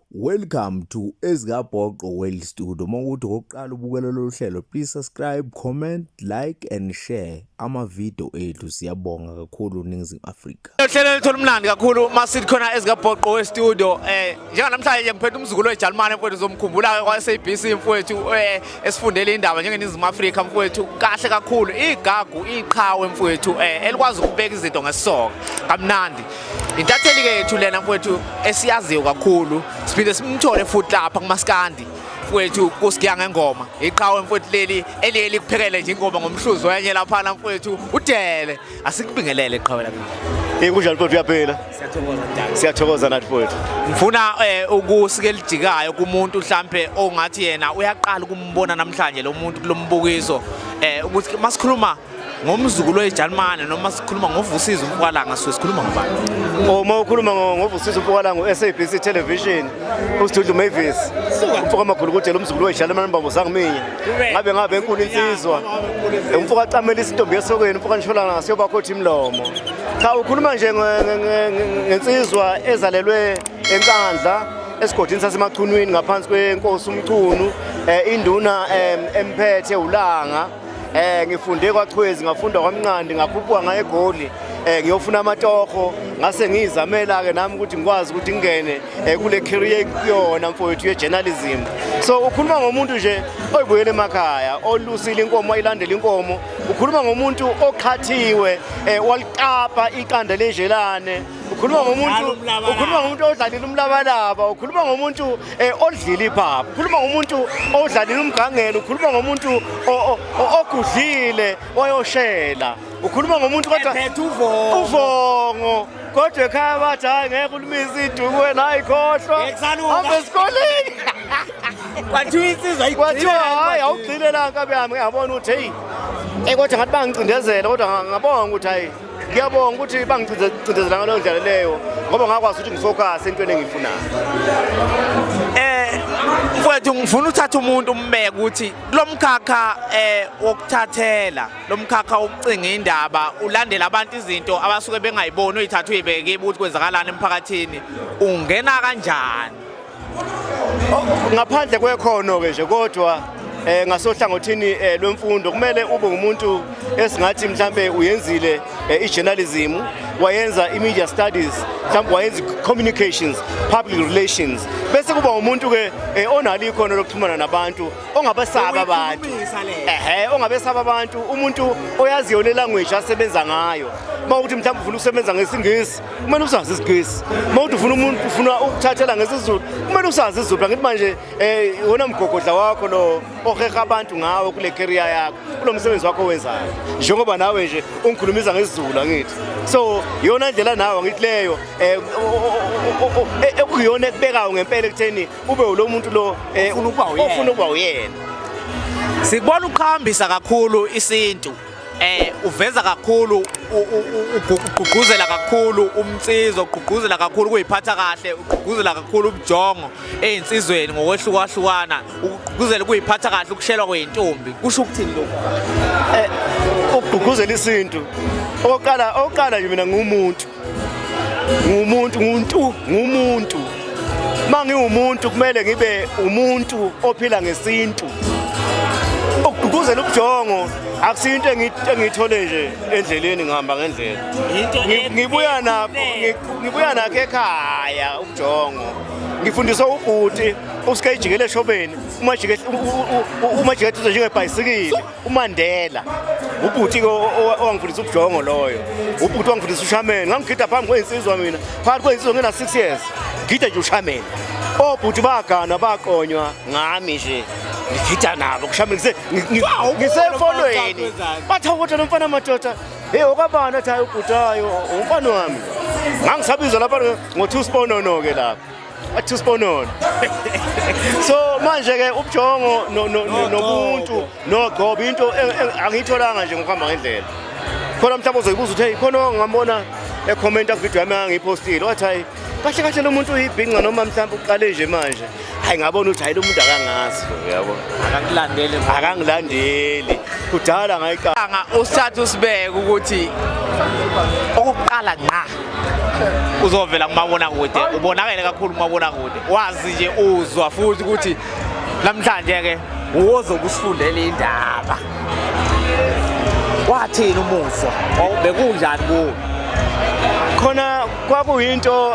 Welcome to Ezikabhoqo World Studio. Uma ukuthi okokuqala ubukela lolu hlelo, please subscribe, comment, like and share ama-video ethu. Siyabonga kakhulu Ningizimu Afrika. Uhlelo luthola umlandi kakhulu uma sithi khona Ezikabhoqo World Studio. Eh, njenganamhlanje ngiphethe umzukulu weJalimane mfowethu zomkhumbula kwa-SABC mfowethu. Eh, esifundele indaba njengeningizimu afrika mfowethu kahle kakhulu igagu iqhawe mfowethu eh, elikwazi ukubeka izinto ngesisoka kamnandi intatheli ke yethu lena mfowethu esiyaziyo kakhulu siphinde simthole futhi lapha kumaskandi mfowethu kusigiya ngengoma iqhawe mfowethu leli eliye likuphekele nje ingoma ngomhluzi wenye laphana mfowethu udele Asikubingelele qhawe lakho. Eh kunjani futhi uyaphila? Siyathokoza njalo. Siyathokoza nathi futhi. Ngifuna eh, ukusike lijikayo kumuntu mhlambe ongathi yena uyaqala ukumbona namhlanje lo muntu kulombukiso eh ukuthi masikhuluma ngomzukulu weJalimane noma sikhuluma ngovusiza umfwalanga so sikhuluma ngobani uma ukhuluma ngovusiza umfwalanga uSABC television uSidudlu Mavis umfoka makhulu kudela umzukulu weJalimane mbambo sangiminye ngabe ngabe enkulu insizwa umfo kacamela isintombi esokweni umfo kanishola ngaso yobakhothi imlomo cha ukhuluma nje ngensizwa ezalelwe enkandla esigodini sasemachunwini ngaphansi kwenkosi umchunu eh, induna emphethe ulanga eh ngifunde kwachwezi ngafunda kwamnqandi ngakhuphuka ngaye egoli eh ngiyofuna amatoho ngase ngiyizamela ke nami ukuthi ngikwazi ukuthi ngingene eh, kule career kuyona mfowethu ye-journalism so ukhuluma ngomuntu nje oyibuyela emakhaya olusile inkomo wayilandela inkomo ukhuluma ngomuntu oqhathiwe eh, waliqapa iqanda lenjelane ukhuluma ngomuntu ukhuluma ngomuntu odlalile umlabalaba ukhuluma ngomuntu eh, odlile iphaphu ukhuluma ngomuntu odlalile umgangelo ukhuluma ngomuntu ogudlile wayoshela ukhuluma ngomuntu kodwa uvongo kodwa ekhaya bathi hayi ngeke ulimisa iduku wena hayi khohlwa hambe esikoleni kwathiwa insizwa kwathiwa hayi awugcine la nkabi yami ngiyabona ukuthi heyi eh, kodwa ngathi bangicindezela kodwa ngabonga ukuthi hayi ngiyabonga ukuthi bangicindezela ngaleyo ndlela leyo ngoba ngakwazi ukuthi ngifokase entweni engiyifunayo mfowethu ngifuna uthatha umuntu umbeke ukuthi kulomkhakha eh wokuthathela lo mkhakha wokucinga indaba ulandela abantu izinto abasuke bengayiboni uyithatha uyibeke ukuthi kwenzakalani emphakathini ungena kanjani oh, ngaphandle kwekhono-ke nje kodwa eh ngasohlangothini eh, lwemfundo kumele ube umuntu esingathi mhlambe uyenzile eh, ijournalism wayenza imedia studies mhlambe wayenza communications public relations bese kuba umuntu ke eh, onalo ikhono lokuxhumana nabantu ongabesaba abantu ehe ongabesaba abantu umuntu oyaziyo le language asebenza ngayo uma ukuthi mhlawumbe ufuna ukusebenza ngesingisi kumele usazi isingisi uma ukuthi ufuna umuntu ufuna ukuthathela ngesizulu kumele usazi isizulu ngithi manje um wona mgogodla wakho lo oheha abantu ngawo kule keriya yakho kulo msebenzi wakho owenzayo njengoba nawe nje ungikhulumisa ngesizulu angithi so yona ndlela nawe angithi leyo um ekuyona ekubekayo ngempela ekutheni kube ulo muntu lo eh, Ofuna ukuba uyena. ofuna ukuba uyena Sikubona uqhambisa kakhulu isintu. Eh uveza kakhulu u- u- u- ugu- ugqugquzela kakhulu umcizo, ugqugquzela kakhulu ukuyiphatha kahle, ugqugquzela kakhulu ubujongo ezinsizweni ngokwehlukahlukana, ugqugquzela ukuyiphatha kahle ukushelwa kweintombi. Kusho ukuthini lokho? ukugqugquzela isintu oqala oqala nje mina ngumuntu ngumuntu nguntu ngumuntu uma ngiwumuntu kumele ngibe umuntu ophila ngesintu ukugqugquzela ubujongo akusiyo into engiyithole nje endleleni ngihamba ngendlela ngibuya nakho ngibuya nakho ekhaya ubujongo ngifundiswa ubhuti usikejikele eshobeni umajikele umajikele njengebhayisikile uMandela ubhuti owangifundisa ubujongo loyo ubhuti wangifundisa ushameni ngangigida phambi kweyinsizwa mina phakathi kweyinsizwa ngena 6 years ngigida nje ushameni obhuti baganwa baqonywa ngami nje ngigida nabo kushameni ngisefonweni bathi awukodwa nomfana madoda hey okwabani athi hayi ubhutayo umfana wami ngangisabizwa lapha ngo-two sponono-ke lapho Athu Sponono. So manje ke ubujongo nobuntu nogcobo into e, e, angiyitholanga nje ngokuhamba ngendlela. Khona mhlawumbe uzoyibuza ukuthi hey khona ongambona ekhomenta kuvideo yami angiyipostile wathi hayi kahle kahle lo muntu uyibhinca noma mhlawumbe uqale nje manje hayi ngabona ukuthi hayi lo muntu akangazi uyabo akangilandeli akangilandeli kudala ngayiqanga usathu sibeke ukuthi okuqala ngqa uzovela kumabonakude ubonakele kakhulu kumabonakude wazi nje uzwa futhi ukuthi namhlanje ke uwozobe usifundela indaba wathini umuzwa bekunjani kuwo khona kwakuyinto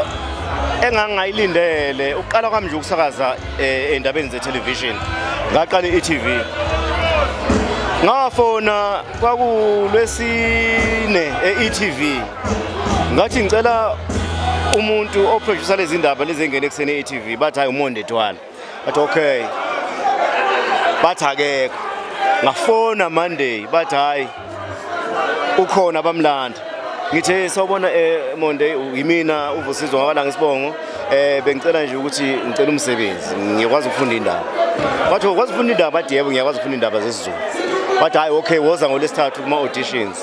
engangayilindele uqala kwami nje ukusakaza eh, endabeni ze-television ngaqala i-etv ngafona kwakulwesine e-etv ngathi ngicela umuntu oproducer lezi ndaba lezi engene ekuseni e-TV bathi hayi umonde twala bathi okay bathi akekho ngafona monday bathi hayi ukhona bamlanda ngithe sawubona eh monday yimina uvusizwa ngabala ngesibongo eh bengicela nje ukuthi ngicela umsebenzi ngiyakwazi ukufunda indaba bathi ukwazi ukufunda indaba bathi yebo ngiyakwazi ukufunda indaba zesizulu bathi hayi okay woza ngolesithathu kuma auditions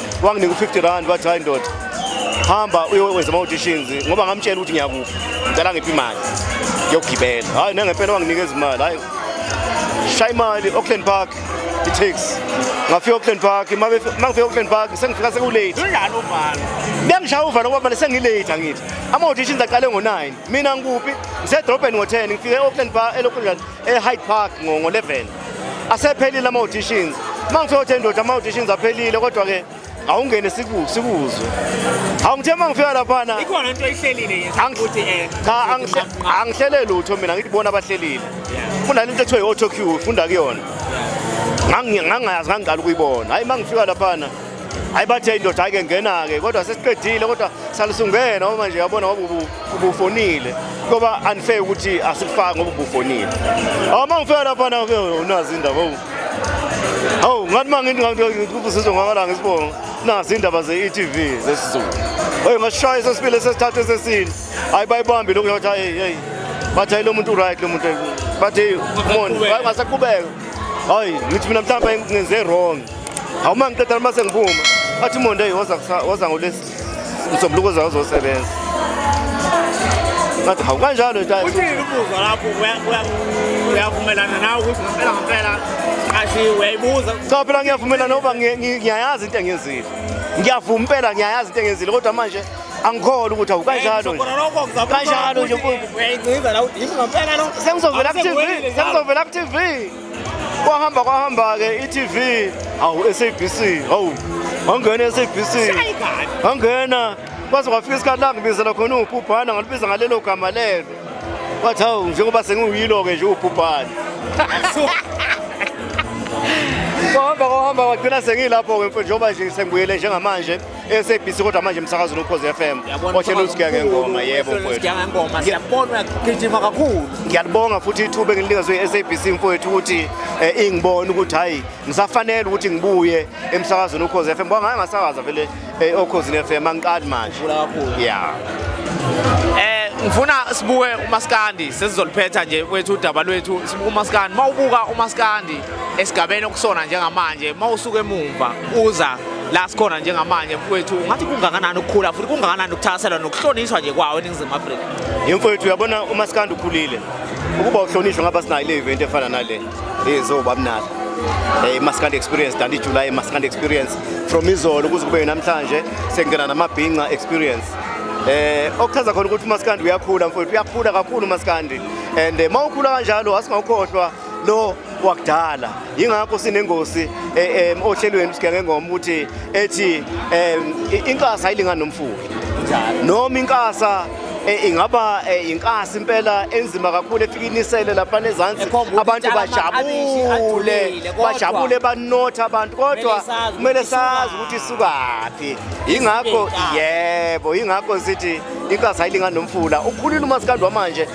wanginika u-50 rand wathi hayi ndoda hamba uyowenza ama-auditions ngoba ngamtshela ukuthi ngiyakuphi ngicela ngiphi imali yokugibela hhayi nangempela wanginika ezimali hhayi shaya imali auckland park i-tax ngafika auckland park uma ngifika auckland park sengifika sekulate bengishaya uvalo ngoba mane sengilate angithi ama-auditions aqale ngo-9 mina ngikuphi ngisedrobheni ngo-10 ngifike e-auckland park e-auckland eHyde Park ngo-11 asephelile ama-auditions uma ngifika ukuthi endoda ama-auditions aphelile kodwa-ke awungene sikuzwe hawu ngithe uma ngifika laphana ikhona into eyihlelile ukuthi eh, cha angihlele lutho mina ngithi bona abahlelile kunale into ekuthiwa i-auto cue funda kuyona ngangingayazi ngangiqala ukuyibona hhayi uma ngifika laphana hayi bathe indoda ayike ngena-ke kodwa sesiqedile kodwa salusungena uma nje yabona ngoba ubufonile ngoba unfair ukuthi asikufaki ngoba ubufonile awu uma ngifika laphana ke unazi indaba owu hawu ngathi uma ngikubusizo ngakalanga isibongo nazi indaba ze-e-t v zesizulu oye ngasishaya sesibili sesithathu esesini hayi bayibambi lokhu yakuthi hayi heyi bathi hayi lo muntu uright lo muntu bathi moni ngasaqhubeka hayi ngithi mina mhlawumbe ngenze wrong awuma ngiqeda uma sengiphuma athi monday woza ngolesi msombuluko zawo zosebenza ngathi hawu kanjalo uthini ubuza lapho uyavumelana nawe ukuthi ngempela ngempela kathi uyayibuza cha phela ngiyavumelana ngoba ngiyayazi into engenzile ngiyavuma impela ngiyayazi into engenzile kodwa manje angikholwa ukuthi awu kanjalo kanjalo nje sengizovelakutv sengizovelakutv kwahamba kwahamba-ke i-tv hawu sabc hawu wangena i-sabc wangena kwaze kwafika isikhathi langibizela khona uwubhubhana ngalibiza ngalelo gama lelo wathi hawu njengoba sengiwuyilo-ke nje uwubhubhana kwahamba kwahamba kwagcina sengilapho-ke mfo njengoba nje sengibuyele njengamanje SABC kodwa manje emsakazweni ukhozi FM ohlelo usigiya ngengoma yebo mfowethu ngengoma siyabona gijima kakhulu ngiyalibonga futhi ithuba engilinikazwe i-SABC mfowethu ukuthi eh, ingibone ukuthi hayi ngisafanele ukuthi ngibuye emsakazweni ukhozi FM ngoba ngaye ngasakaza vele eh, okhozini FM angiqali manje yeah eh ngifuna sibuke umaskandi sesizoliphetha nje kwethu udaba lwethu sibuka umaskandi mawubuka umaskandi esigabeni okusona njengamanje uma usuke emumva uza la sikhona njengamanje mfowethu ngathi kungakanani ukukhula futhi kungakanani ukuthaselwa nokuhlonishwa nje kwawo eningizimu afrika yimfowethu uyabona uma sikanda ukhulile ukuba uhlonishwe ngaba sinayo le event efana nale ezoba mnala eh maskand experience dandi july maskand experience from izolo kuze kube namhlanje sengena namabhinca experience eh okuchaza khona ukuthi umaskandi uyakhula mfowethu uyakhula kakhulu umaskandi and eh, mawukhula kanjalo asingawukhohlwa lo wakudala yingakho sinengosi eh, eh, ohlelweni sigenge ngoma ukuthi ethi eh, inkasa ayilingani nomfuyi noma inkasa Eh, ingaba eh, inkasi impela enzima kakhulu efika inisele lapha nezansi abantu bajabule bajabule banotha abantu kodwa kumele sazi ukuthi isukaphi ingakho yebo ingakho sithi inkasi ayilingani nomfula ukhulile umasikandwa manje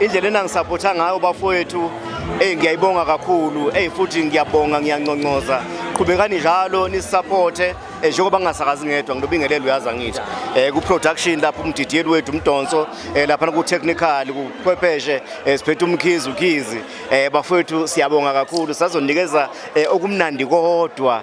indlela enangisapotha ngayo bafowethu eyi ngiyayibonga kakhulu eyi futhi ngiyabonga ngiyanconcoza qhubekani njalo nisisapothe eh, njengoba ngingasakazi ngedwa nginobingelelo uyazi angithi um ku-production lapho umdidiyeli wethu umdonso um eh, laphana ku-technical kuchwepheshe um siphethe umkhizi ukhizi um bafowethu siyabonga kakhulu sazonikeza um okumnandi kodwa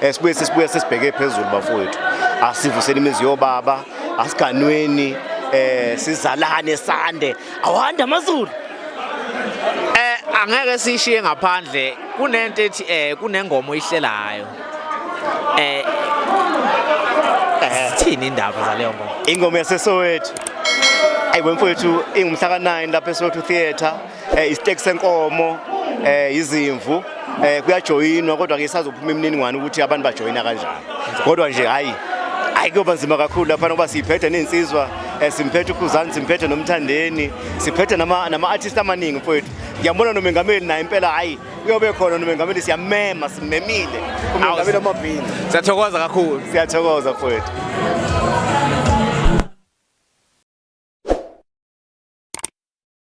Eh, sibuye sesibuye sesibheke phezulu bafowethu asivuseni imizi yobaba asiganweni eh sizalane sande awanda amazulu eh angeke sishiye ngaphandle kunento ethi eh kunengoma oyihlelayo eh, eh sithini indaba zaleyo ngoma ingoma yasesowethu ayi wemfowethu ingumhla ka9 lapha eSotho Theatre eh istek senkomo eh izimvu eh kuyajoyinwa kodwa ke sazophuma imininingwane ukuthi abantu bajoyina kanjani kodwa nje hayi hayi kuyoba nzima kakhulu lapha ngoba siyiphethe nensizwa eh, simphethe ukhuzani simphethe nomthandeni siphethe nama nama artist amaningi mfowethu ngiyambona nomengameli naye impela hayi uyobe khona nomengameli siyamema simemile umengameli amabhini siyathokoza kakhulu siyathokoza mfowethu